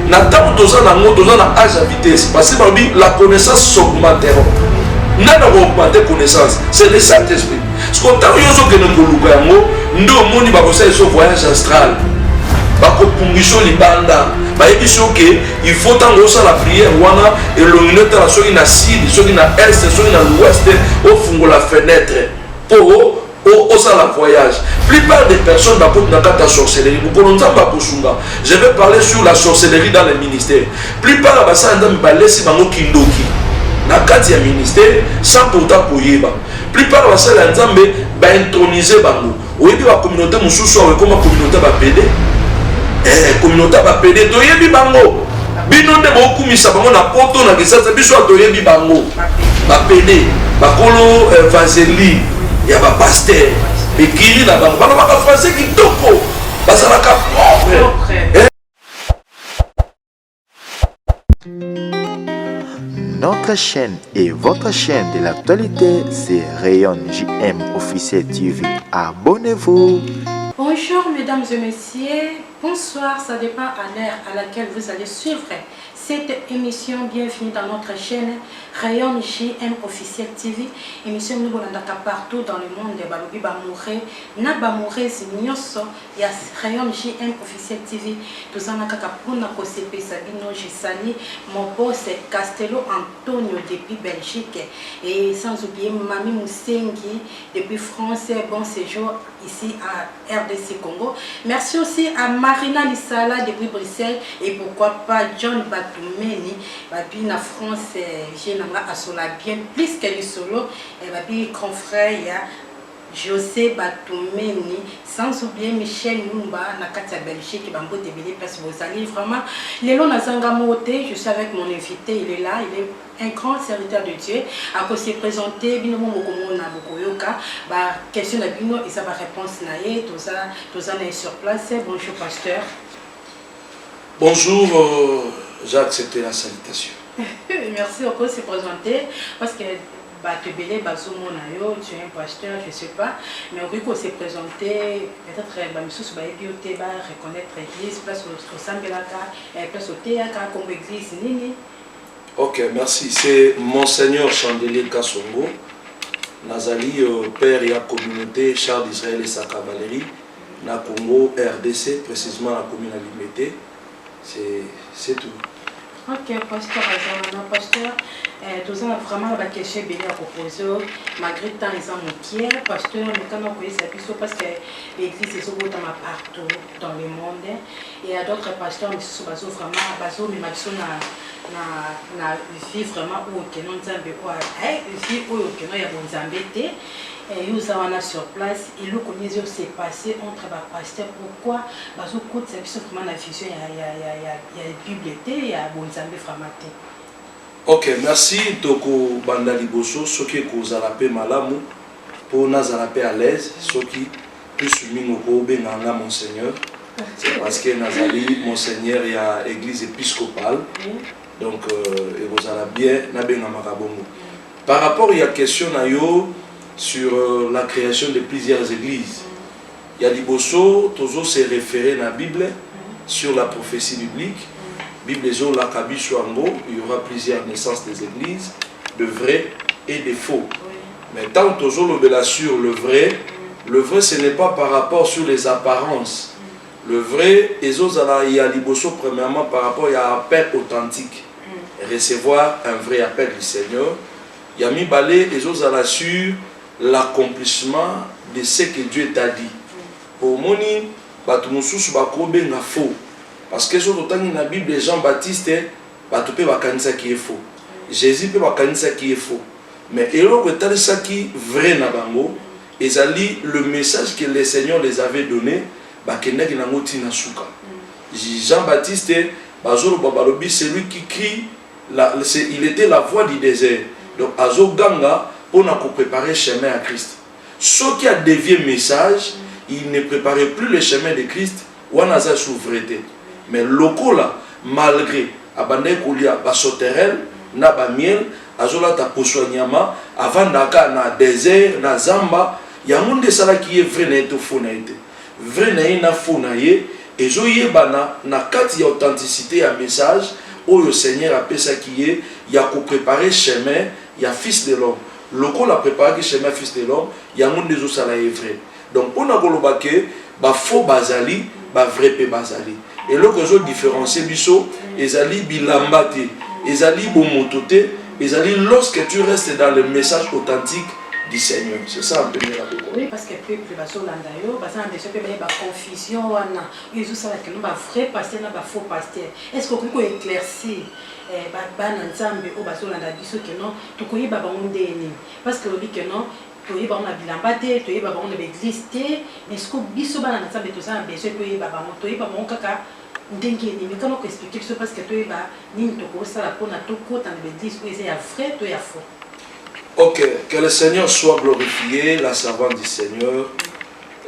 na ntango toza na yango toza na age ya vitesse basi balobi la connaissance s'augmenteront nani akoougmente connaissance c'est le saint esprit siko ntango yo ozokende koluka yango nde omoni bakosala eso voyage astral bakopungisa libanda bayebisi yo ke il faut ntango osala priere wana elongi no etala soki na sud soki na est soki na l'ouest ofungola fenêtre mpo Osala voyage plupart des personnes bakoti na kati ya sorcellerie mokolo nzambe akosunga je vais parler sur la sorcellerie dans le ministère plupart ya basala nzambe balesi bango kindoki na kati ya ministère sans pourtant koyeba plupart ya basala ya nzambe baintronise bango oyebi bacommunauté mosusu awa ekoma communauté bapede eh, communauté bapede toyebi bango bino nde bokumisa bango na poto na kisasa biso toyebi bango bapede bakolo eh, vaseline ya ba pasteur ekili na bango balobaka français kitoko bazalaka propre Notre chaîne et votre chaîne de l'actualité, c'est Rayon JM Officiel TV. Abonnez-vous. Bonjour mesdames et messieurs, bonsoir, ça dépend à l'heure à laquelle vous allez suivre Cette emission bienvenue dans notre chaine Rayon JM officiel TV emission bino bolandaka partout dans le monde balobi ba amoureux na ba amoureuse nioso ya Rayon JM officiel TV toza na kaka pona kosepesa bino je sali mon boss Castello Antonio depuis Belgique et sans oublier Mami Musengi depuis France bon séjour ici à rdc Congo merci aussi à Marina Lisala depuis Bruxelles et pourquoi pas John Batumeni babi na France eh, je nanga asola bien plus que lisolo eh, babi grand frère ya José Batumeni sans oublier Michel Mumba na kati ya Belgique bango debele place bozali vraiment lelo nazanga mote je suis avec mon invité il est là il est un grand serviteur de Dieu ako se présenter bino mo bokomona bokoyoka ba question na bino eza ba réponse na ye toza toza na ye sur place bonjour pasteur bonjour euh, j'ai accepté la salutation merci oko se présenter parce que bato ebele bazomona yo tu es un pasteur je sais pas mais okoki ko se présenter peut-être bamisusu bayebi yo te ba reconnaître église place osambelaka place oteyaka kombo église nini Ok merci c'est monseigneur chandelier kasongo nazali père ya communauté char d'israel esa cavalerie na congo rdc precisement na commune ya limete c'est tout Ok, pasteur Azamana, pasteur, eh, toza na vraiment ba question ebele ya kopose oh, malgré temps eza mokie pasteur mekana koyesa biso parce que l'église ezobotama partout dans le monde Il y a d'autres pasteurs misusu bazo vraiment bazo mema biso na na na vie vraiment oyo keno nzambe oyo eh, vie oyo keno ya bonzambe te eh, yo oza wana sur place eloko nini ezo se passe entre bapasteur pourquoi bazokotisa biso vraiment na vision ya, ya, ya, ya, ya bible te ya bonzambe vraiment te ok merci tokobanda liboso soki ekozala mpe malamu mpo nazala mpe à l'aise soki Plus minoko obenga nga monseigneur c'est parce que nazali monseigneur ya église episcopale donc euh, ekozala bien nabengamaka bongo par rapport ya question na yo sur euh, la création de plusieurs églises ya liboso tozo se référer na bible sur la prophétie biblique bible ezolaka biso yango il y aura plusieurs naissances des églises de vrai et de faux Mais tango tozo lobela sur le vrai, le vrai ce n'est pas par rapport sur les apparences. Le vrai ezo zala ya liboso premièrement par rapport ya appel authentique. Recevoir un vrai appel du Seigneur. Ya mibale ezo zala sur l'accomplissement de ce que Dieu t'a dit. Po omoni batu mususu bako benga faux. Parce que soki totangi na bible Jean Baptiste, Bato mpe bakanisaki ye faux. Jesus mpe bakanisaki ye faux. Mais eloko etalisaki vrai na bango, ezali le message que le Seigneur les avait donne, bakendaki na yango ti na suka. Jean Baptiste, bazoloba, balobi, celui qui crie, la, c'est, il etait la voix du desert. Donc azoganga pona ko preparer chemin ya Christ. Soki a devier message, il ne preparait plus le chemin de Christ, Wana aza sous vrai te mais lokola malgre abandaki kolia ba sauterelles na ba miel azolata poso ya nyama avandaka kaka na desert na zamba yango nde esalaki ye vrai na ye to faux na ye te vrai na ye na faux na ye ezoyebana na kati ya authenticite ya message oyo seigneur apesaki ye ya ko preparer chemin ya fils de l'homme lokola apreparaki chemin ya fils de l'homme yango nde ezosala ye vrai Donc pona koloba que ba faux bazali ba vrai pe bazali. Eloko ezo différencier biso ezali bilamba te, ezali bomoto te, ezali lorsque tu restes dans le message authentique du Seigneur. C'est ça un peu la Bible. Oui, parce que peuple bazolanda yo, bazana déjà pe ba confusion wana. Ils ont ça que ba vrai pasteur na ba faux pasteur. Est-ce que vous éclaircir eh, bana nzambe oyo bazolanda biso ke non tokoyeba bango ndenge nini parce que olobi ke non toyeba bango na bilamba te toyeba bango na baeglise te mais siko biso bana na nzambe toza na besoin toyeba bango toyeba bango kaka ndenge emekama koexplike biso parce que toyeba nini tokosala mpona tokota na baeglise oyo eza ya vrai to ya faux ok que le seigneur soit glorifié la servante du seigneur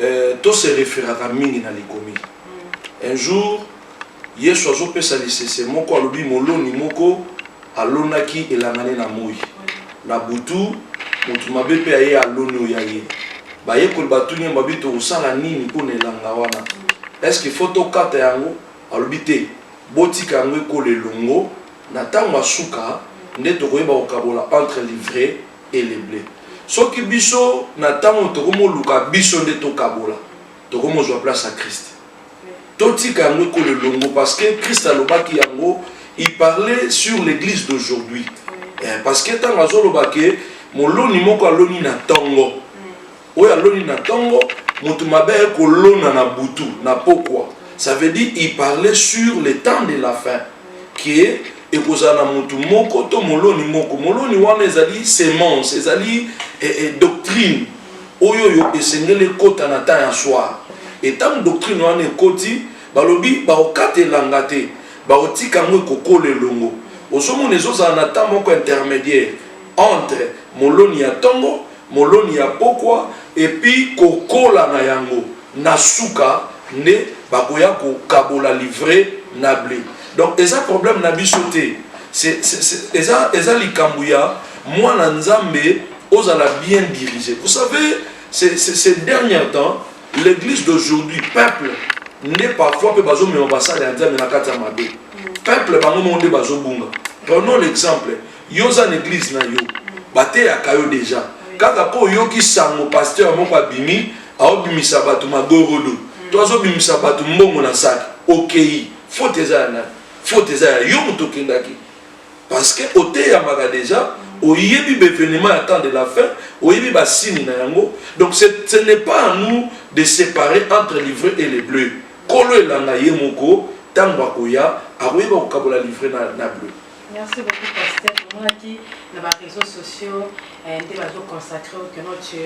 euh, to se référaka mingi na likomi mm. un jour Yesu azopesa lisese moko, alobi, Moloni moko alonaki elanga ne na moi. Na butu, moto mabe mpe aye aloni o ya ye. Bayekoli batuni ye, babi, Tokosala nini mpo na elanga wana? Eske il faut tokata yango? Alobi, Te, botika yango ekola elongo, na tango ya suka nde tokoyeba kokabola entre l'ivraie et le ble. Soki biso, na tango tokomoluka biso nde tokabola, tokomozwa place ya Christ. totika yango ekola elongo parce que christ alobaki yango il parlait sur l'église d'aujourd'hui eh, parce que ntango azoloba ke moloni moko aloni na ntongo mm. oyo aloni na ntongo moto mabe aye kolona na butu na pokwa ça veut dire il parlait sur le temps de la fin ke ekozala na moto moko to moloni moko moloni wana ezali semence ezali eh, eh, doctrine Oyo oyo esengeli ekota na temps ya soir et tango doctrine wana ekoti balobi bakokata elanga te bakotika yango ekokola elongo ozomona ezozala na temps moko intermediaire entre moloni ya tongo, moloni ya pokwa et puis kokola na yango. Na suka nde bakoya kokabola livre na ble. Donc eza problème na biso te. Eza, eza likambo ya mwana Nzambe ozala bien dirige. Vous savez, ces derniers temps, l'église d'aujourd'hui, peuple, nde parfois mpe bazomema basali ya Nzambe na kati ya mabe. Peuple bango moko nde bazobunga. Prenons l'exemple Yo oza na eglise na yo, bateyaka yo deja kaka mpo oyoki sango pasteur moko abimi aobimisa bato magorodo to azobimisa bato mbongo na saki, okei. Faute eza ya nani? Faute eza ya yo moto okendaki, parce que oteyamaka deja oyebi bevenema ya temps de la fin oyebi basini na yango donc ce n'est pas à nous de séparer entre livre et le bleu kolo elanga ye moko ntango akoya akoyeba kokabola livre na, na bleu Merci beaucoup pasteur tomonaki na ba réseaux sociaux eh, nde bazo consacre que non tu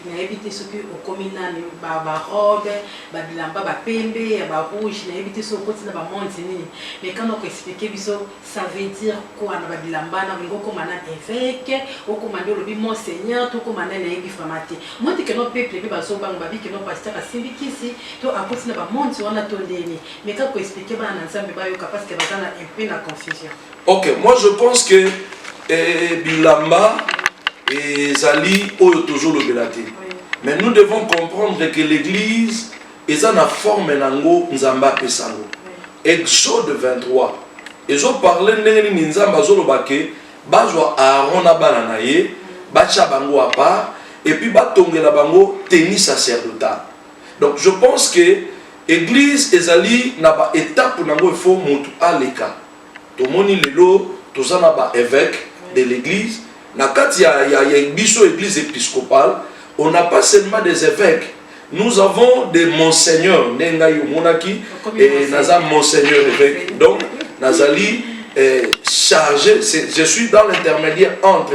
nayebi te soki okomi nani ba ba robe ba bilamba ba pembe ya ba rouge nayebi te soki okoti na ba monde nini mais quand on expliquer biso ça veut dire quoi na ba bilamba na ngo koma na évêque okoma nde olobi monseigneur to koma na nayebi vraiment te moi te que non peuple pe bazo banga babi que non pasteur asimbi kisi to akoti na ba monde wana to ndeni Meka ko expliquer bana na Nzambe bayoka parce que baza na un peu na confusion. Ok, moi je pense que eh, bilamba ezali oyo tozolobela te mais nous devons comprendre que l'église eza na forme nango nzambe apesa yango exode 23 ezoparle ndenge nini nzambe azoloba ke bazwa aaron na bana na ye batya bango apart epuis batongela bango teni sacerdotal Donc je pense que eglise ezali na ba étape nango il faut mutu aleka tomoni lelo toza na ba évêque de l'église na kati ya, ya, ya biso église épiscopale on n'a pas seulement des évêques nous avons des monseigneurs nde ngai omonaki eh, naza monseigneur évêque donc nazali eh, chargé je suis dans l'intermédiaire entre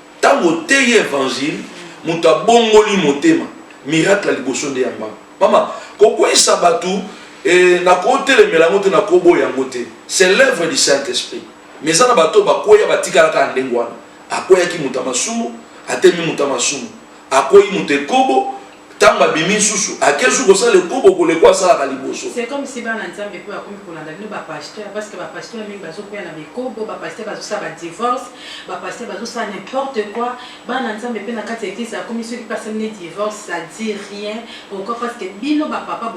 Tango oteyi evangile mutu abongoli motema miracle ya liboso nde ya mbangu mama kokweyisa batu eh, nakotelemela yango te nakoboya yango te c'est l'œuvre du saint esprit mais eza na bato oyo bakweya batikala kaka ndenge wana akweyaki moto ya masumu atemi moto ya masumu akwei moto ekobo ntango abimi nsusu ake su kosala ekobo koleko asalaka liboso c'est comme si bana nzambe mpo bakomi kolanda bino bapasteur parce que bapasteur mingi bazokwea na bikobo bapasteur bazosala badivorce bapasteur bazosala n'importe quoi bana nzambe mpe na kati ya eglise akomi soki mpe asali ne divorce ça dit rien pourquoi parce que bino bapapa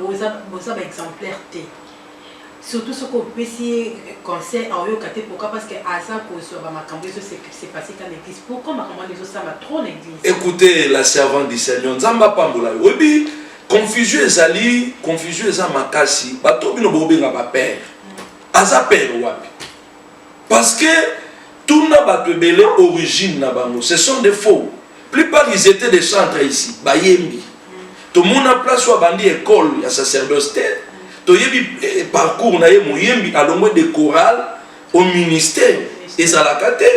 boza baexemplaire te Surtout soki opesi ye conseil aoyoka te pourquoi parce que aza kozua ba makambu ezo se passer ata na eglise pourquoi makambu wana ezo salama trop na eglise. Ecoute la servante du seigneur nzambe apambola yo oyebi confusion ezali confusion eza makasi bato bino bobenga ba père aza père wapi Parce que tuna bato ebele origine na bango ce sont des faux plupart ils étaient des chantres ici bayembi tomona place oyo abandi école ya sacerdoce te toyebi eh, parcours na ye moyembi alongwe de chorale au ministère ezalaka te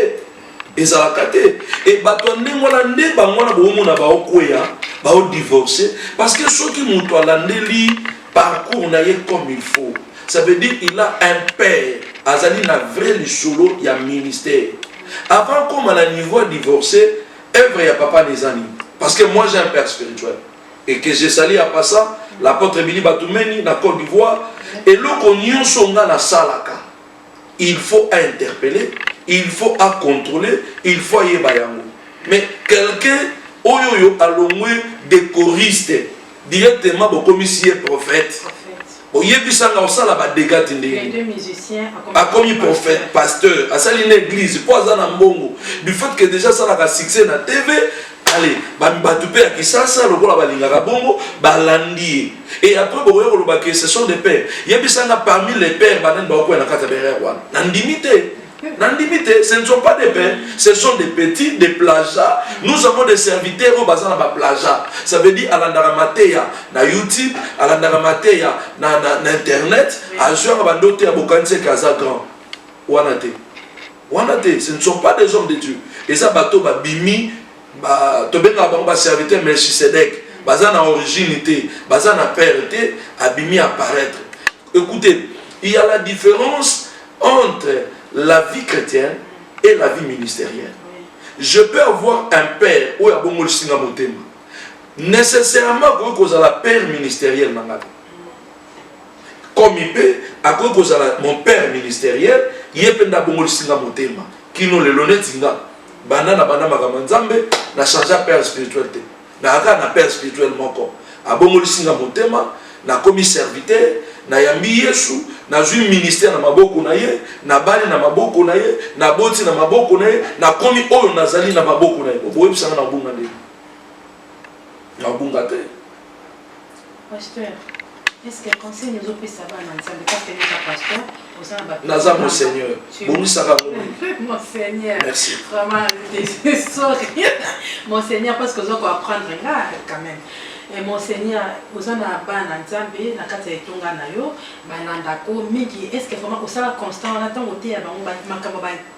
ezalaka te e bato ya ndenge wana nde bango wana boomona baokweya baodivorce parce que soki moto alandeli parcours na ye comme il faut ça veut dire il a un père azali na vrai lisolo ya ministère avant koma na niveau ya divorce œuvre ya papa neza nini parce que moi j'ai un père spirituel et que je sali ya pasa l'apôtre bili batumeni na côte d'ivoire eloko nyonso nga nasalaka il faut a interpeller il faut a contrôler il faut ayeba yango mais quelqu'un oyo oyo alongwe decoriste directement bokomisi ye prophète oyebisanga osala badega ti ndenge akomi prophète pasteur asali na église mpo aza na mbongo du fait que déjà asalaka succès na tv ale bato mpe ya kisasa lokola balingaka bongo balandi ye Et après bokoya koloba que ce sont des pères. Yebisa nga parmi les pères banani bakokuya na kati ya barrière wana. Na ndimi te. Na ndimi te, ce ne sont pas des pères, ce sont des petits, des plagiats. Nous avons des serviteurs oyo baza na ba plagiats. Ça veut dire alandaka mateya na YouTube, alandaka mateya na na, na internet, azwaka ba ndoto ya bokanisi que aza grand. Wana te. Wana te, ce ne sont pas des hommes de Dieu. Eza bato babimi ba tobengaka bango ba serviteur melchisedek baza na origine te baza na père te abimi apparaître écoutez il y a la différence entre la vie chrétienne et la vie ministérielle je peux avoir un père oyo abongolisi nga motema nécessairement akoki kozala père ministériel na ngai Komi pe akoki kozala mon père ministeriel, ye pe nde abongolisi nga motema kino lelo neti nga banda na banda makambo ya Nzambe na changea père spirituel te, naya kaka na père spirituel moko abongolisi nga motema nakomi serviteur nayambi Yesu nazui ministère na maboko na ye nabali na maboko na ye naboti na maboko na ye nakomi oyo nazali na maboko na ye boyebisa nga na kobunga ndenge Nabunga te. Pasteur, est-ce que conseil nous opesa bana nzambe parce que neza pasteur oza na bato naza mon seigneur bongisaka mon seigneur merci vraiment sorry mon seigneur parce que oza ko apprendre nga quand même et mon seigneur oza na bana nzambe na kati ya etonga na yo balandako mingi est ce que vraiment osala constant wana ntango oteya bango makambo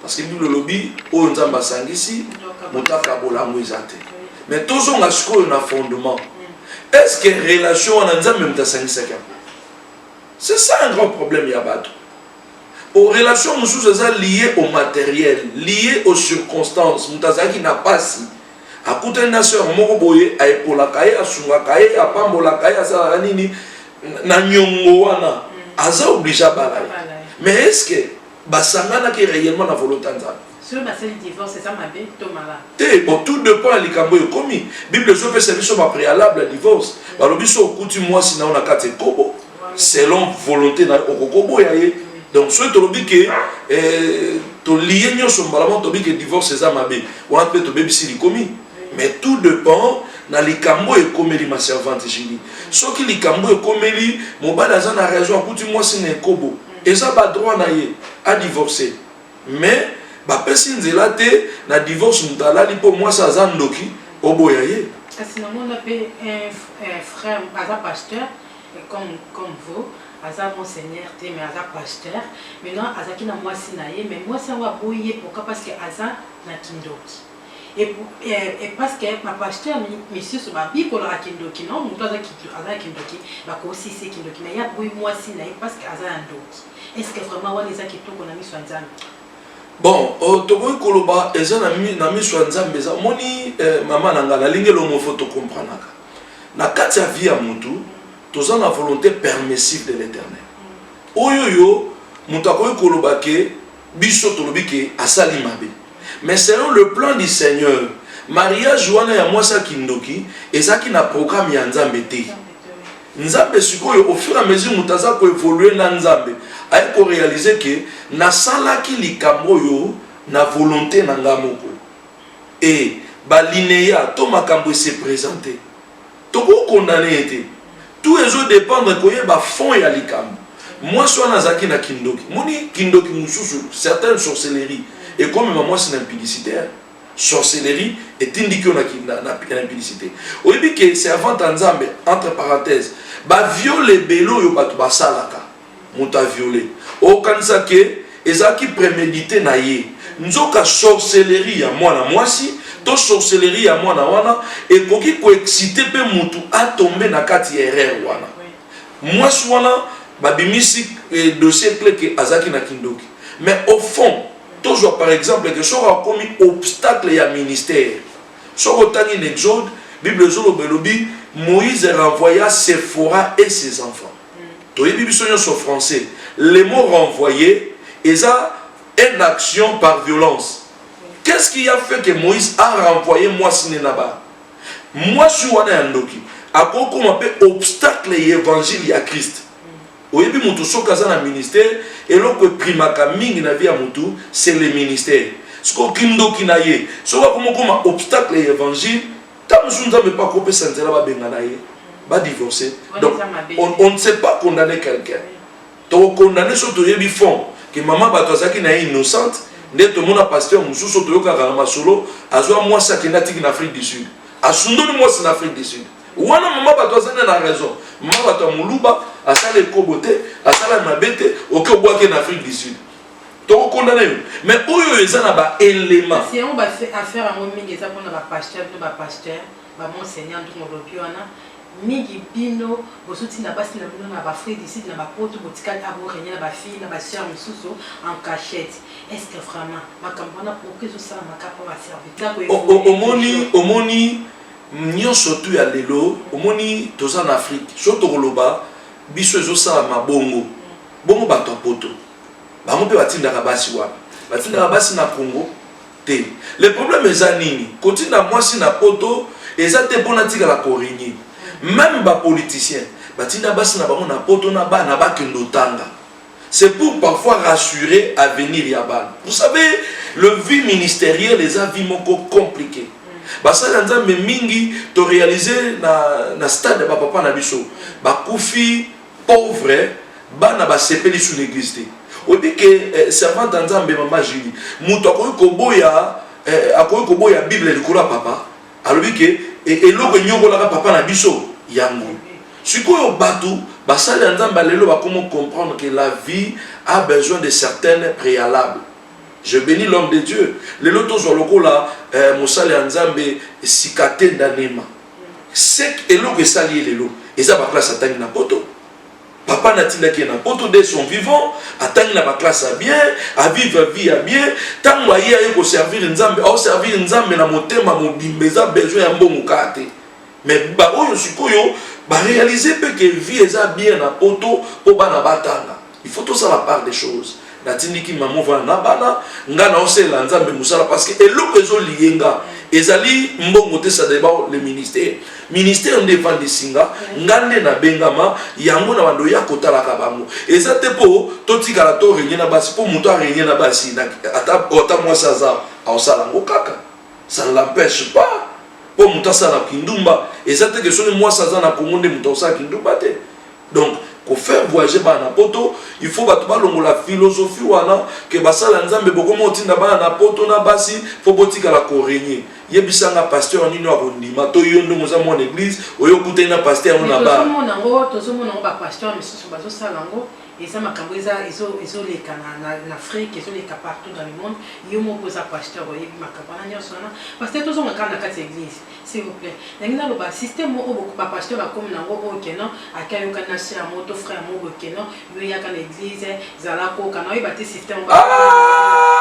Parce que Bible olobi oyo Nzambe asangisi moto akabola yango eza te. Mais tozonga sikoyo na fondement. Est-ce que relation wana Nzambe moto asangisaki yango? C'est ça un grand problème ya bato. Aux relations mosusu eza lié au matériel, lié aux circonstances. Moto azalaki na pasi akutani na sœur moko boye aepolaka ye asungaka ye apambolaka ye asalaka nini na nyongo wana aza oblige abala ye mais est ce que basanganaki reellement na volonte ya nzambe soki basali divorce eza mabe to mala te bon tout depend ya likambo oyo ekomi bible ezopesa biso bapréalable ya divorce balobi so okuti mwasi na yo na kati ekobo selon volonté na yo okokoboya ye donc soki tolobi ke eh, toliye nyonso mbala moko tolobi ke divorce eza mabe wana mpe tobebisi likomi mais tout depend na likambo oyo ekomeli ma servante jili soki likambo oyo ekomeli mobali aza na raison akuti mwasi na ekobo Eza ba droit na ye a divorce mais ba pesi nzela te na divorce mutu alali po mwasi aza ndoki oboya ye. Kasi na mona pe un frère aza pasteur comme comme vous aza monseigneur te mais aza pasteur maintenant azalaki na mwasi na ye mais mwasi yango aboyi ye pourquoi parce que aza na kindoki. Et parce que ma pasteur misusu ba bikola a kindoki non mutu aza kindoki aza kindoki ba ko si se kindoki mais ya boyi moi si nae parce que aza ndoki est ce que vraiment wana eza kitoko na miso nzambe bon oh, tokoki koloba eza na miso ya nzambe eza omoni eh, mama na ngai nalingi elongo fo tokompranaka na kati ya vie ya motu toza na volonté permissive de l'éternel oyo yo moto akoki koloba ke biso tolobi ke asali mabe Mais selon le plan du seigneur, mariage wana ya mwasi ya kindoki ezalaki na programme ya Nzambe te. Nzambe sikoyo au fur et à mesure moto aza ko evoluer na Nzambe, aye ko realiser que nasalaki likambo oyo na volonte na nga moko. Et ba lineas to makambo e se presenter. Toko condamne ye te. Tout ezo dependre koyeba fond ya likambo. Mwasi wana azalaki na kindoki. Omoni kindoki mosusu, certaines sorcelleries ekomema mwasi na impudicite hein. Sorcellerie etindiki yo na na impudicite. Oyebi que servante ya Nzambe, entre parenthèses, ba viols ebele oyo batu basalaka, moto a viole okanisa ke ezalaki premedite na ye nzoka sorcellerie ya mwana mwasi to sorcellerie ya mwana wana ekoki koexcite mpe motu atombe na kati ya erreur wana mwasi wana babimisi eh, dossier cle ke azalaki na kindoki mais au fond tozwa par exemple ke soki akomi obstacle ya ministère soki otangi na exode bible ezoloba elobi moïse renvoya sephora et ses enfants toyebi biso nyonso français le mot renvoye eza une action par violence qu'est ce qui a fait que moïse a renvoye mwasi ne naba mwasi wana ya ndoki akokoma mpe obstacle ya evangile ya christ oyebi moto soki aza na ministère eloko eprimaka mingi na vie ya moto c'est le ministère soki okindoki na ye soki akomokoma obstacle ya evangile Tant mosusu Nzambe mpe akopesa nzela babengana ye ba divorce donc on, on ne sait pas condamner quelqu'un tokokondane so toyebi fond ke mama bato azalaki na ye innocente nde tomona pasteur mosusu toyokaka na masolo azwa mwasi akende atiki na afrique du sud asundoli mwasi na afrique du sud wana mama bato azali na raison mama bato ya moluba asala ekobo te asala mabe te oke obwaki na afrique du sud toko condamne yo mais oyo eza na ba élément kasi yango affaire yango mingi eza mpona bapasteur to bapasteur bamonseigneur ntongo olobi wana mingi bino bozuti na basi na bino na bafride ici na bapoto botikali aborenie na bafille na basœur mosusu en cachette est ce que vraiment makambo wana pourkui ezosalama kaka baserviceomoni omoni nyonso tu ya lelo omoni toza na afrique so tokoloba biso ezosalama bongo bongo bato ya poto bango mpe batindaka basi wana batindaka basi na congo te le problème eza nini kotinda mwasi na poto eza te mpo natikala koringi meme bapoliticien batinda basi na bango na poto na bana bakende otanga c'est pour parfois rassurer avenir ya bana vous savez le vie ministériel eza vie moko compliqué basali ya nzambe mingi torealize na, na stade ya bapapa na biso bakufi Pauvre bana basepeli sous l'église te oyebi ke eh, servante ya nzambe mama julie moto akoki koboya eh, akoki koboya bible likolo ya papa alobi ke eh, eloko enyokolaka papa na biso yango sikoyo bato basali ya nzambe ya lelo bakomo comprendre que la vie a besoin de certaines préalables je bénis l'homme de dieu lelo tozwa lokola eh, mosali ya nzambe sikatenda nema seke eloko esali ye lelo eza ba classe atangi na poto papa na atindaki ye na poto de son vivant atangi na ba classe ya bien avivre vie ya bien ntango aye aye koservir nzambe aoservir nzambe na motema mobimba eza besoin ya mbongo kaka te mais baoyo sikoyo barealize mpe ke vie eza bien na poto mpo bana batanga il faut tosala part des choses natindiki mama ovanda na bana ngai naosalela nzambe mosala parce que eloko ezoliye nga ezali mbongo te sadeba le ministère ministère nde efandisi nga nga nde nabengama yango na bando ya kotalaka bango eza te mpo totikala to renye na basi mpo moto arenye na basi ata mwasi aza aosala yango kaka ça ne l'empêche pas mpo moto asala kindumba eza te ke soki mwasi aza na kongo nde moto aosala kindumba te donc ko faire voyager bana na poto il faut bato balongola philosophie wana ke basala nzambe bokoma otinda bana na poto na basi mpo botikala koregne yebisa nga pasteur nini oyo akondima to yo ndenge oza mwana eglise oyo okutani na pasteur yango na batozomona yango tozomona yango bapasteur misusu bazosala yango eza makambo eza ezoleka na afrique ezoleka partout dans le monde yo moko oza pasteur oyebi makambo wana nyonso wana pasteur tozonga kaka na kati ya eglise S'il vous plait nalingi naloba système moko bo ba pasteur ba komi nango oyo ke non ake ayokani na soeur ya moko to frère ya moko boye ke non yo yaka na eglise zala koka na oyeba te système moko ba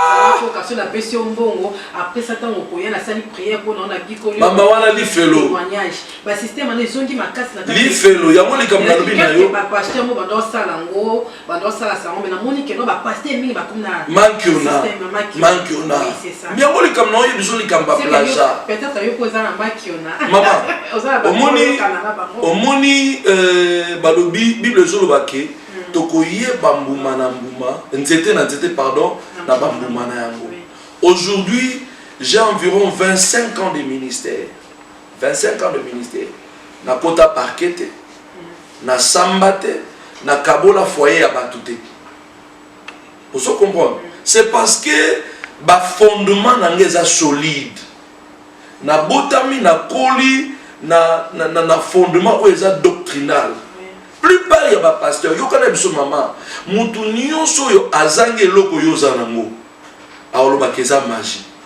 zala koka soki na pesi yo mbongo après ça tango okoya na sali prière po na yo na bikoli mama wana lifelo témoignage ba système wana ezongi makasi na kati lifelo yango likambo nalobi na yo ba pasteur moko ba do sala ngo bando basala sango me namoni keno bapaster mingi bakomi na mankiona yango likambo na oyo biso likambo ya plaja mama omoni euh, balobi bible ezoloba ke hmm. tokoyeba mbuma na mbuma nzete na nzete pardon na bambuma na yango aujourd'hui j'ai environ 25 ans de ministère 25 ans de ministère na kota parquet te na samba te na kabola foyer ya batu te ozo comprendre c'est parce que ba fondement na nga eza solide na botami na koli na, na, na, na fondement oyo eza doctrinal plupart ya bapasteur yokana biso mama motu nyonso oyo azangi eloko yo oza nango aolobaka eza magie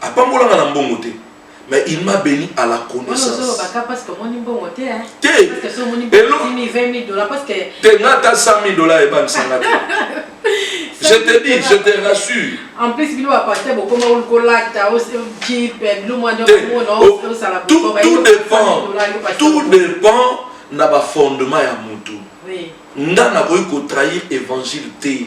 apambola nga na mbongo te mais il m'a béni à la connaissance te te nga ata 100 000 dollars ebamisanga te je te dis je te rassure en plus bino bapasteur bokoma kolata jipe bilo mwa osala tout dépend tout dépend na bafondement ya motu nga nakoki kotrahir évangile te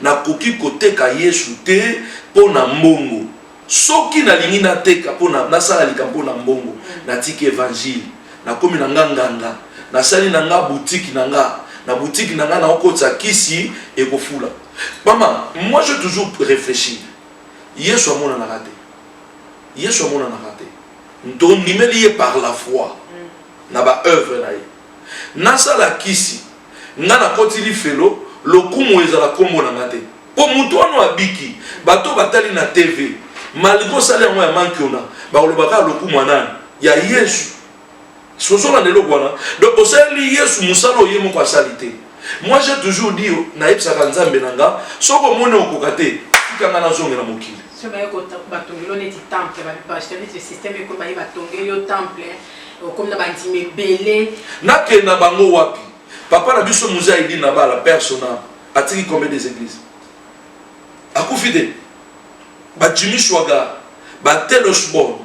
Nakoki koteka Yesu te mpo na mbongo. Soki nalingi nateka mpo na nasala likambo mpo na mbongo, natiki Evangile, nakomi na nga nganga, nasali na nga boutique na nga, na boutique na nga naokotisa kisi ekofula. Mama, moi je toujours reflechir, Yesu amonanaka te, Yesu amonanaka te, tondimeli ye par la foi na ba oeuvres na ye. nasala kisi nga nakoti lifelo lokumu ezala kombo na nga te po mutu wana abiki bato batali na TV malgre osali yango ya mankiona bakoloba kaka lokumu ya nani ya Yesu sozola na eloko wana donc osaleli Yesu mosala oye moko asali te moi j'ai toujours dit nayebisaka nzambe na nga soki omoni okoka te tika nga nazongela mokili soki baye batongeli yo neti temple bato basysteme ekoyo baye batongeli yo temple Okomi na bandimi ebele. Nakenda bango wapi? Papa na biso Muzee Aidin Nabala, père son âme, atiki combien des églises? Akufi te. Ba Jimmy Shwaga, ba Telos Bon,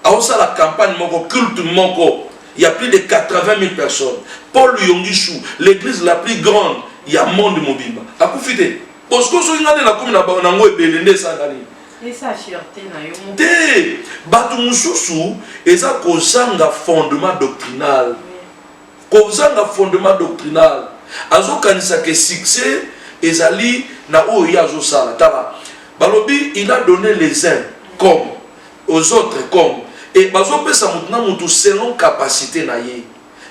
aosala campagne moko, culte moko, il y a plus de 80 000 personnes. Paul Yongishu, l'église la plus grande, il y a monde mobimba. Akufi te. Bosco soki ngane na komi na bango ebele nde esanga nini? Esa fierté na yo moko. Te, bato mosusu eza kozanga fondement doctrinal. Kozanga fondement doctrinal. Azokanisa ke succès ezali na oyo ye azosala. Tala, balobi il a donné les uns comme aux autres comme et bazopesa moto na moto selon capacité na ye.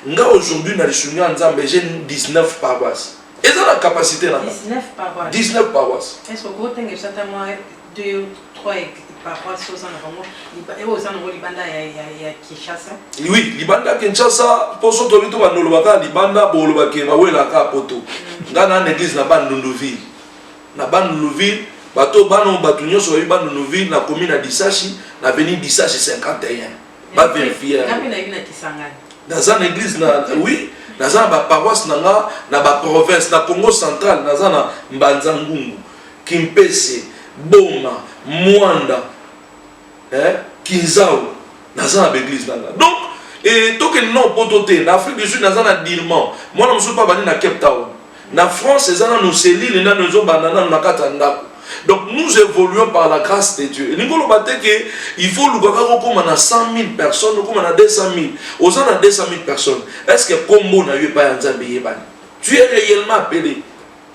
Nga aujourd'hui na lisungi ya Nzambe j'ai 19 paroisses. eza na capacité na 19 paroisse 19 paroisse est ce que ko tenge sata moi 2 3 paroisse oza na bango e oza nango libanda ya ya Kinshasa oui libanda Kinshasa poso toli to banoloba ka libanda boloba ke bawela ka poto mm. nga na église na Bandundu ville na Bandundu ville bato bano bato nyonso bayebi Bandundu ville na commune ya Disashi na avenue Disashi 51 ba verifie naza na église na oui naza na baparoisse na nga na baprovince na congo central naza na mbanza ngungu kimpese boma mwanda eh, kinzau naza na baeglise na nga donc e, tokende na opoto te na afrique du sud naza na dirman mwana mosusu mpe abandi na cape town Na France eza nanu selile nanu ezo banda nanu na kati ya ndako. Donc nous évoluons par la grâce de Dieu. Elingi oloba te ke il faut oluka kaka okoma na 100 000 personnes, okoma na 200 000. Oza na 200 000 personnes. Est-ce que kombo na yo epai ya Nzambe eyebani? Tu es réellement appelé.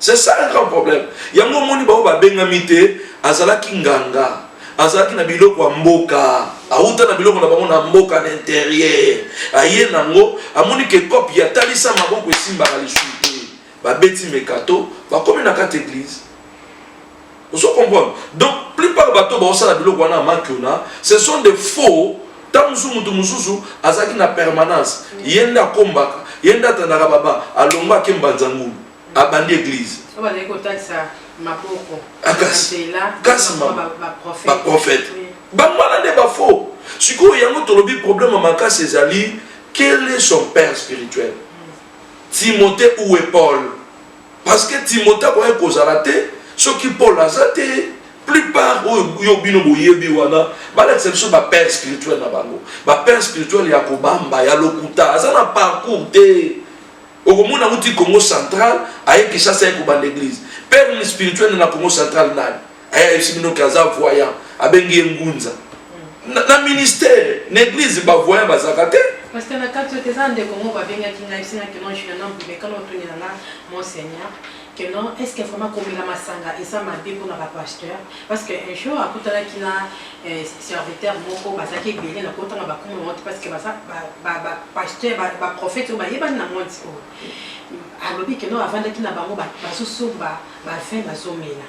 C'est ça un grand problème. Yango omoni bao babengami te azalaki nganga. azalaki na biloko ya mboka awuta na biloko na bango na mboka na interieur aye nango amoni ke cope ya talisa maboko esimbaka lisusu te babeti mekato bakomi na kati eglise ozo comprendre donc plupart bato baosala biloko wana amakiona ce sont des faux ntango mosusu moto mosusu azalaki na permanence ye nde akombaka ye nde atandaka baba alongwa ake mbanza ngulu abandi eglise bazali kotalisa maboko ah, kasi baprofete bango wana nde bafo sikoyo yango tolobi problème ya makasi ezali quel est son père spirituel timothée ou est paul parce que timothée akoki kozala te soki paul aza te plupart oyo yo bino boyebi wana balakisa biso bapère spirituel na bango bapère spirituel ya kobamba ya lokuta aza na parcours te okomona uti congo central aye kishasa ye kobanda eglise perle spirituel na congo central nani aye ayebisi bino ke aza voyant abengi ye ngunza na, na ministère na église bavoyant bazalaka te parce que na kati oyo te eza ndeko moko babengaki ngai bisinga kino juliana mbumekana otunela nga monseigneur que non est ce que vraiment komela masanga eza mabe mpona ba pasteur parce que un jour akutanaki na eh, serviteur moko bazalaki ebele na kotanga bakomi yango te parce que baza bapasteur baprophète oyo bayebani na monde oyo alobi que non avandaki na bango bazosomba bavin bazomela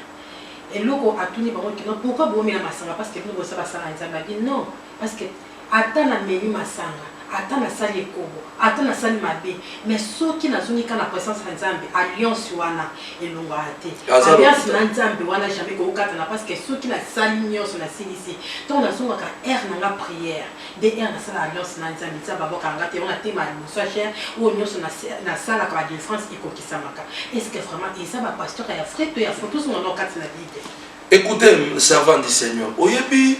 eloko atuni bango kino pourquoi bomela masanga parce que bino boza basala nzambe abi non parce que Ata na meli masanga, ata na sali ekobo, ata na sali mabe, mais soki na zongi kaka na presence ya Nzambe, alliance wana elongwaka te. Alliance na Nzambe wana jamais ekoki kokatana parce que soki na sali nionso na silisi, tango na zongaka heure na nga prière, nde heure na sala alliance na Nzambe, Nzambe abwakaka nga te, yango na teyema liboso ya chaire, oyo nionso na salaka ba delivrance ekokisamaka. Est ce que vraiment eza ba pasteurs ya vrai to ya faux? Tozonga nao kati na bible. Ecoutez, servant du Seigneur, oyebi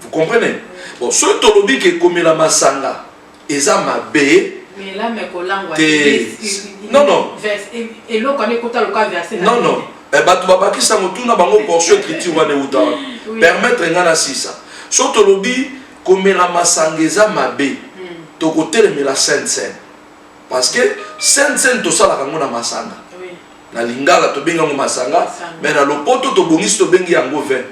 Vous comprenez? Bon, ce tolobi que komela masanga eza mabe. Mais là mais kolangwa. Non non. Et l'eau quand écoute le cas verset. Non non. Eh batu babakisa motuna bango portion écriture wana euta wana. Permettre nga na sisa. So tolobi komela masanga eza mabe. Hmm. Tokotelemela sainte sainte. Parce que scène scène tosalaka yango na masanga. Na lingala tobengi yango masanga, mais na lopoto tobongisi tobengi yango vin.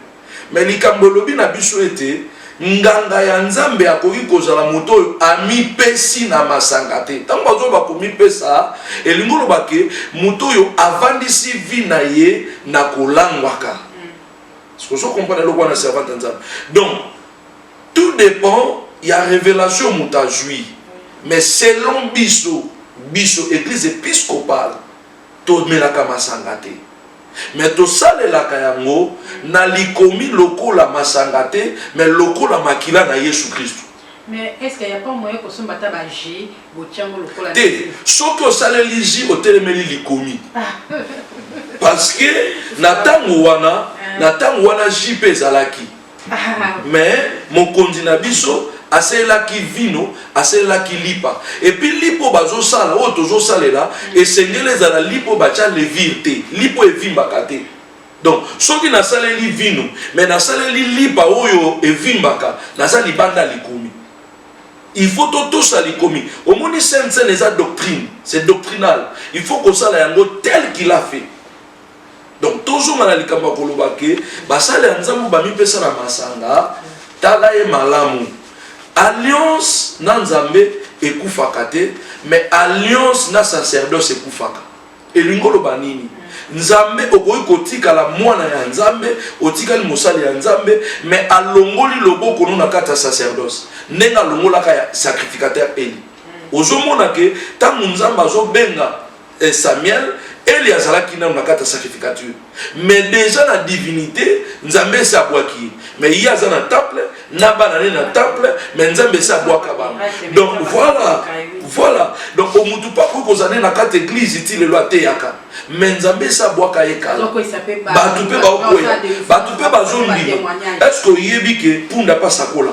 Mais likambo elobi na biso ete nganga ya Nzambe akoki kozala moto oyo amipesi na masanga te. Ntango bazo bakomipesa, elingi oloba ke moto oyo avandisi vi na ye na kolangwaka. Mm. Sikoyo ozo comprendre eloko wana servante ya Nzambe. Donc Tout depend ya revelation moto azui mais selon biso biso eglise episcopale tomelaka masanga te mais tosalelaka yango na likomi lokola masanga te mais lokola makila na yesu kristu Mais est-ce qu'il n'y a pas moyen de se battre à J, Botiango, le col à T. Sauf que ça le ligi au téléméli likomi. Parce que Nathan Wana, Nathan Wana JP Zalaki. mais mokonzi na biso asalelaki vino asalelaki lipa epuis lipa oyo bazosala oyo tozosalela esengeli ezala lipa oyo batya levire te lipa oyo evimbaka te donc soki nasaleli vino me nasaleli lipa oyo evimbaka naza libanda likomi il faut totosa likomi omoni sainte seine eza doctrine c'est doctrinal il faut kosala yango tel qu'il a fait donc tozonga na likambo ya koloba ke basali ya nzambe bamipesa na masanga tala ye malamu alliance na nzambe ekufaka te mais alliance na sacerdoce ekufaka elingi oloba nini nzambe okoki kotikala mwana ya nzambe otikali mosali ya nzambe mais alongoli loboko no na kati ya sacerdoce ndenge alongolaka ya sacrificateur eli ozomona ke ntango nzambe azobenga eh, Samuel, Eli azalaki nano na kati ya sacrificature mais déjà na divinité nzambe esi abwaki ye mais ye aza na temple na bana ne na temple mais nzambe esi abwaka bango donc voilà voilà donc omutu mpe akoki kozala ne na kati eglize ti lelo ateyaka mais nzambe esi abwaka ye kala bato mpe baokwela bato mpe bazondima est ce que oyebi ke punda mpe asakola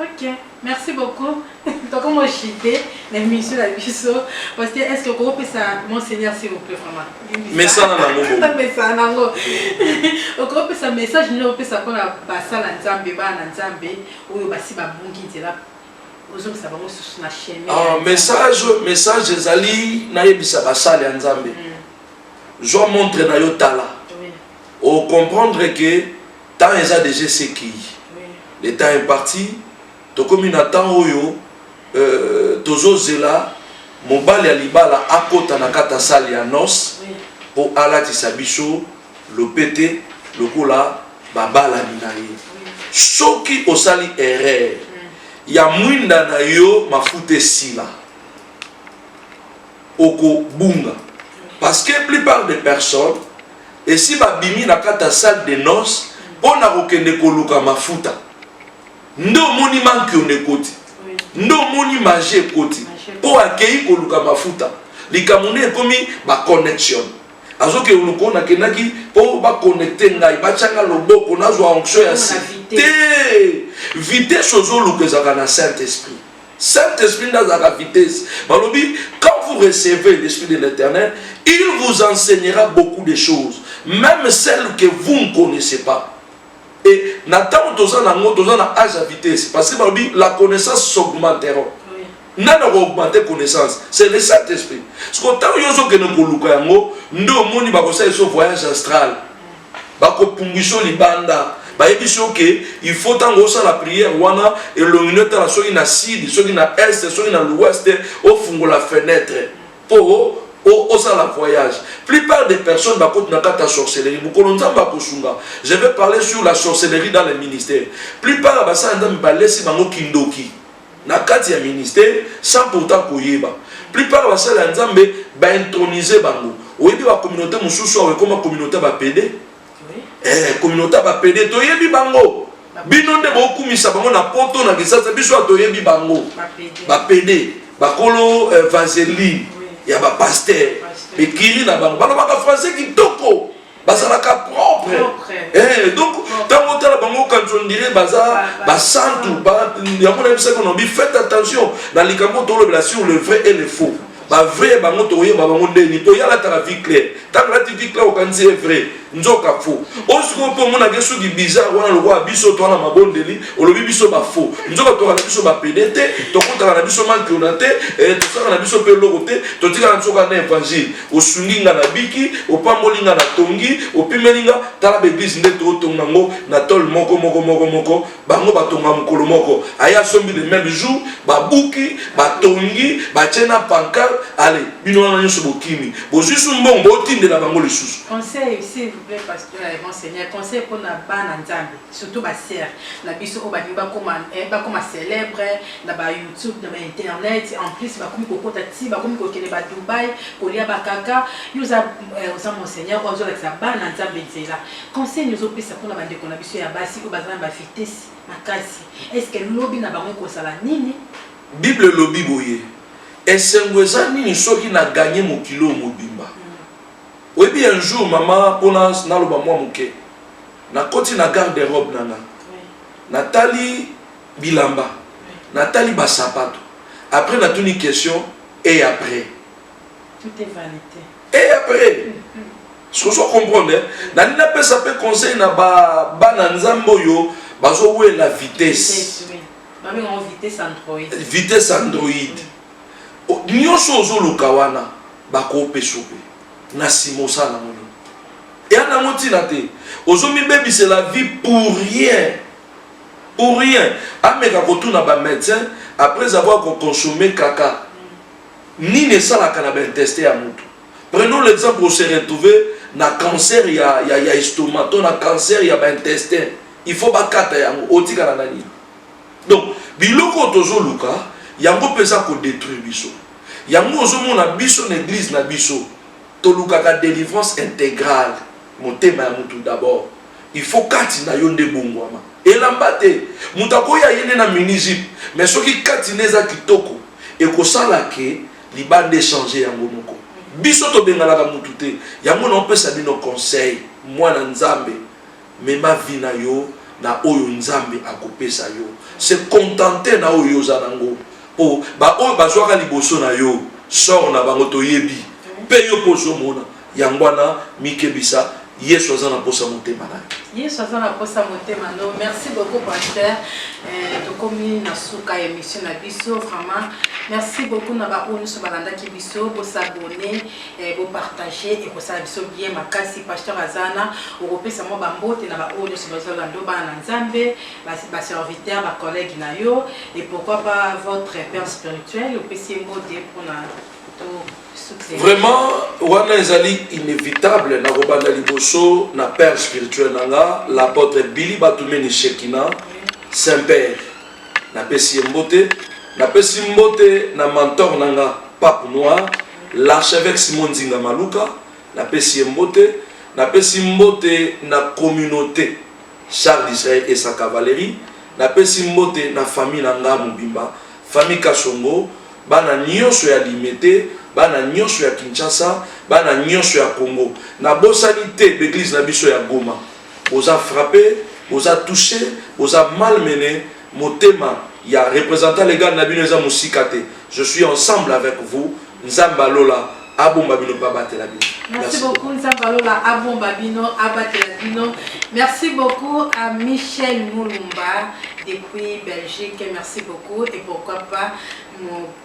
Ok, merci beaucoup. Toko mo chite na mission na biso parce que est-ce que ko pesa monseigneur s'il vous plaît vraiment. Mesana na ngo. Ta mesana na ngo. Oko pesa message ni opesa ko na basala Nzambe bana Nzambe oyo basi ba bungi nzela ozongisa bango susu na chemin. Ah, message message ezali nayebisa basali ya Nzambe. Mm. Zwa montre na yo tala. Oui. O comprendre que Temps eza dejà esi ekeyi. Le temps est parti. Tokomi na temps oyo tozo zela mobali ya libala akota na kati ya salle ya noce po alatisa biso lopete lokola ba balani na ye. Soki osali erreur ya mwinda na yo mafuta esila. okobunga parce que plupart des personnes esi babimi na kati ya salle de noce mpo na kokende koluka mafuta nde omoni mankione ekoti nde omoni magie ekoti mpo akei koluka mafuta likambo nde ekomi baconnexion azoke oloko nakendaki mpo baconnecte ngai batyanga loboko nazwa onction ya site vitesse ozoluka ezalaka na saint esprit Saint Esprit nde azalaka vitesse. Balobi quand vous recevez l'esprit de l'Éternel, il vous enseignera beaucoup de choses, même celles que vous ne connaissez pas. Et na tango toza na ngo toza na âge à vitesse parce que balobi la connaissance s'augmentera. nani akoaugmente connaissance c'est le saint esprit siko ntango yo ozokende koluka yango nde omoni bakosala eso voyage astral bakopunguisa libanda bayebisi yo ke il faut ntango osala priere wana elongi no etala soki na sud soki na est soki na l'ouest ofungola fenêtre mpo osala voyage plupart des personnes bakoti na kati ya sorcellerie mokolo nzambe akosunga je vais parler sur la sorcellerie dans le ministère plupart ya basala nzambe balesi bango kindoki na kati ya ministère sans pourtant koyeba plupart basali ya nzambe baintronise bango oyebi bacommunauté mosusu awa ekoma communauté bapede eh, communauté bapede toyebi bango bino nde bokumisa bango na poto na kisasa biso atoyebi bango bapede bakolo eh, vaseline ya bapaster bekiri na bango balobaka français kitoko bazalaka propre eh, donc ntango otala bango okanisi ondire baza basantu yango nayebisaki onobi faites attention na likambo tolobela sur le vrai et le faux bavrai bango tokoyeba bango ndeni mpo yalataka vie claire ntango alati vie claire okanisi ye vrai nzoka faux oyo sikoyo mpo omonake soki bizarre wana lokola biso toa na mabondeli olobi biso bafaux nzoka toka na biso bapede te tokutaka na biso mankiona te eh, tosaka na biso mpe eloko te totikaka nzoka na evangile Osungi nga na biki, opamboli nga na tongi, opimeli nga tala b'eglise nde tootonga ngo na tole moko moko moko moko bango batonga mokolo moko aye asombi le meme jour babuki batongi batie na pancarte ale bino wana nyonso bokimi bozwi su mbongo botindela bango lisusu Conseil, s'il vous plaît, pasteur, monseigneur, conseil pour na bana nzambe. Surtout ba sœurs na biso oyo balingi bakoma eh, bakoma célèbre na ba YouTube na ba internet en plus bakomi kokota ti bakomi kokende ba Dubaï kolia ba kaka yo oza eh, oza monseigneur oyo azolakisa bana nzambe nzela conseil nini ozopesa mpona bandeko na biso ya basi oyo baza na ba vitesse makasi est ce que lobi na bango ekozala nini bible elobi boye esengo eza nini soki na ganye mokili oyo mobimba Oyebi un jour mama pona naloba mwa moke nakoti na garde robe na nga natali bilamba natali ba sapato après natuni question et après tout est vanite et après sozo comprendre nalingi napesa mpe conseil na bana nzambe oyo bazowela vitesse vitesse android Nioso ozo luka wana bako pesope na sima osala nango nini? Ea nango tina te ozo mi bebisela vie pour rien pour rien ameka ko tuna ba medecin apres avoir ko consomme kaka nini esalaka na ba intestin ya mutu prenons l'exemple o se retrouve na cancer ya ya estomac to na cancer ya ba intestin il faut ba kata yango otikala na nini? Donc biloko oyo tozoluka yango mpe eza kodetruire biso. Yango ozomona biso na eglise na biso tolukaka delivrance integrale. Motema ya mutu d'abord. Il faut kati na yo nde ebongwama. Elamba te. Mutu akoya aye nde na mini jupe mais soki kati nde eza kitoko ekosala que libanda echanger yango moko. Biso tobenganaka mutu te yango naopesa bino conseil mwana Nzambe. Mema vie na yo na oyo Nzambe akopesa yo. Se contenter na oyo yo oza na ngo. Po ba oyo bazuaka liboso na yo sort na bango toyebi. Pe yo pe ozo mona. Yango wana mikebisa Yesu aza na posa motema na yo. Yesu aza na posa motema no. Merci beaucoup pasteur. Eh, tokomi na suka ya emission na biso vraiment. Merci beaucoup na ba oyo nyonso balandaki biso. Bosabone. Eh, bo partager ekosala biso bien makasi pasteur azana okopesa mwa bambote na baoyo nyonso bazolando bana na nzambe baserviteur bacollègue na yo et pourquoi pas votre père spirituel opesi ye mbote mpona vraiment wana ezali inévitable na kobanda liboso na père spirituel na nga l'apôtre bili batumeni shekina saint père Napesi ye mbote. Napesi mbote na mentor na nga Pape Noir, l'archevêque Simon Nzinga Maluka, napesi ye mbote. Napesi mbote na communaute Charles d'Israël Esa Cavalerie, napesi mbote na famille na nga mobimba, famille Kasongo, bana nionso ya Limete, bana nionso ya Kinshasa, bana nionso ya Congo. Nabosani te b'eglise na biso ya Goma. Boza frappe, boza touche, boza mal mene, motema ya representant legal na bino eza mosika te. Je suis ensemble avec vous, Nzambe ya lola abomba bino pe abatela bino. Merci beaucoup Nzambe ya lola abomba bino, abatela bino. Merci beaucoup à Michel Mulumba depuis Belgique, merci beaucoup et pourquoi pas mon